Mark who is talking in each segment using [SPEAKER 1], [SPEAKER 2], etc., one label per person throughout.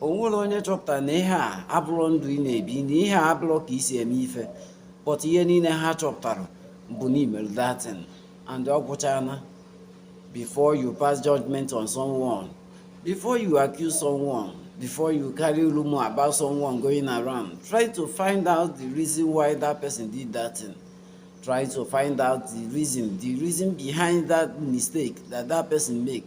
[SPEAKER 1] o nwere onye chọpụtara na ihe a abụrọ ndụ ị na-ebi na ihe a abụrọ ka i si eme ife but ihe niile ha chọpụtara bụ na i mere that thing and ọ gwụchaana before you pass judgment on someone before you accuse someone before you carry rumor about someone going around try to find out the reason why that person did that thing try to find out the reason the reason behind that mistake that that person make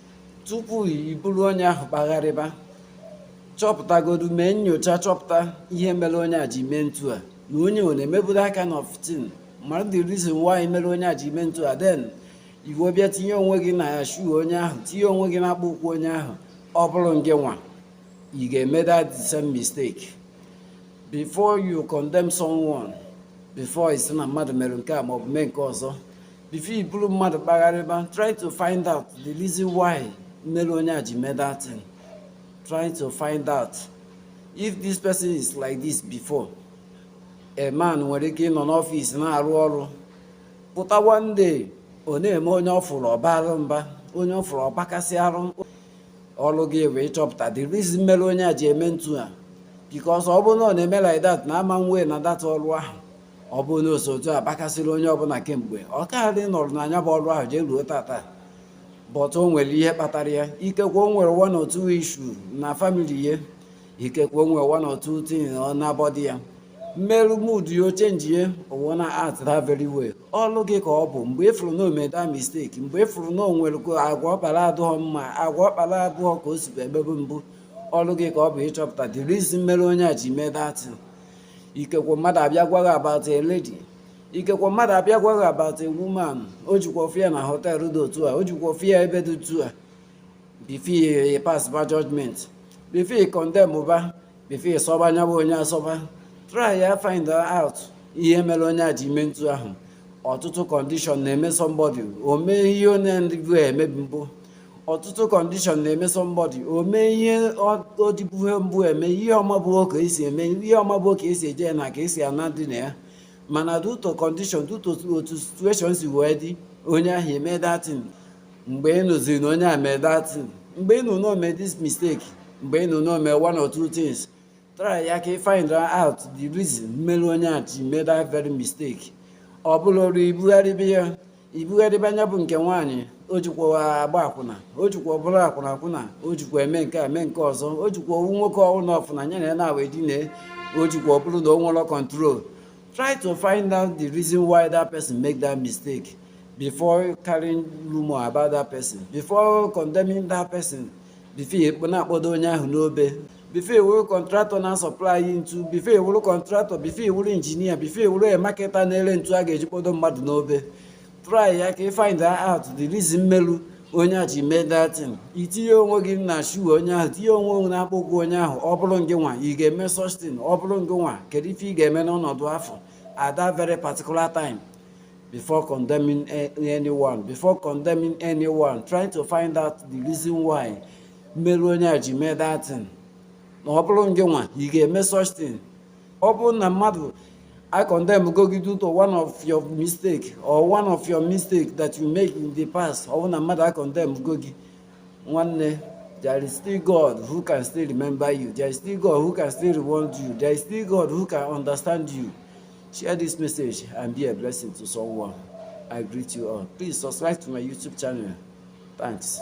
[SPEAKER 1] tupu i buru onye ahụ kpagharịba chọpụtagodu mee nyocha chọpụta ihe mere onye a ji mee ntu a na onye ọ na-emebu that kind of thing mara the reason why mere onye a ji mee ntu a then i wee bịa tinye onwe gị na shoe onye ahụ tinye onwe gị na akpụ ụkwụ onye ahụ ọ bụrụ ngị nwa ị ga-eme that the same mistake before you condemn someone before ị sị na mmadụ mere nke a ma ọ bụ mee nke ọzọ before i buru mmadụ kpagharịba try to find out the reason why mere onye a ji mee that thing try to find out if this person is like this before a man nwere ike ịnọ n'ọfịs na-arụ ọrụ pụta one day ọ na-eme onye ọ fụrụ ọ baara mba onye ọ fụrụ ọ gbakasị arụ ọrụ gị bụ ịchọpụta the reason mere onye a ji eme ntu a because ọ bụrụ na ọ na-eme like that na ama nwee na that ọrụ ahụ ọ bụrụ na o si otu a bakasịrị onye ọbụla kemgbe ọ karị nọrọ na nya bụ ọrụ ahụ jee ruo taata but o nwere ihe kpatara ya ikekwe o nwere one or two issue na family ya ikekwe o nwere one or two thing na-bother ya mere mood ya o change ya o wee na-act that very way ọlụ gị ka ọ bụ mgbe ị fụrụ na o mee that mistake mgbe ị fụrụ na o nwere ka agwa ọ kpara adụghọ mma agwa ọ kpara abụghọ ka o sibu emebu mbụ ọlụ gị ka ọ bụ ịchọpụta the reason mere onye a ji mee that thing ikekwe mmadụ abịa gwa gị about a lady ikekwe mmadụ abịa gwa gị about a woman o jikwa afụ ya na hotel dị otu a o jikwa afụ ya ebe dị otu a before you passba judgment before you condemnụba before you sọba nya bụ onye asọba try ya find out ihe mere onye a ji mee ntu ahụ ọtụtụ condition na-eme somebody o mee ihe ọ na-adị emebu mbụ ọtụtụ condition na-eme somebody o mee ihe ọ dịbuhe mbụ eme ihe ọ mabuo ka e si eme ihe ọ mabuo ka e si eje na ka e si ana dị na ya mana due to condition due to otu situation si wee dị onye ahụ emee that thing mgbe ị nụziri na onye a mee that thing mgbe ị nụ na o mee this mistake mgbe ị nụ na o mee one or two things try ya ka ị find out the reason mere onye a ji mee that very mistake ọ bụrọ ọrụ ibugharịba ya ibugharịba onye bụ nke nwaanyị o jikwa agba akwụna o jikwa bụrụ akwụna akwụna o jikwa eme nke a mee nke ọzọ o jikwa owu nwoke ọwụna ọ fụna nya na ya na-awa edine o jikwa ọ bụrụ na o nwerọ control try to find out the reason why that person make that mistake before carrying rumor about that person before condemning that person before ị na-akpọdo onye ahụ n'obe before ị wụrụ contractor na-asupply ntu before ị wụrụ contractor before ị wụrụ engineer before ị wụrụ marketer na-ere ntu a ga-eji kpọdo mmadụ n'obe try ya ka ị find out the reason melu onye a ji mee that thing ị tinye onwe gị na shoe onye ahụ tinye onwe gị n'akpụkpọ ụkwụ onye ahụ ọ bụrụ ngị nwa ị ga-eme such thing ọ bụrụ ngị nwa kedu ife ị ga-eme n'ọnọdụ afụ at that very particular time before condemning anyone before condemning anyone trying to find out the reason why meru onye a ji mee that thing na ọ bụrụ ngị nwa ị ga-eme such thing ọ bụrụ na mmadụ e condemn go gị due to one of your mistake or one of your mistake that you make in the past ọ bụrụ na mmadụ e condemn go gị nwanne there is still God who can still remember you there is still God who can still reward you there is still God who can understand you share this message and be a blessing to someone I greet you all please subscribe to my YouTube channel thanks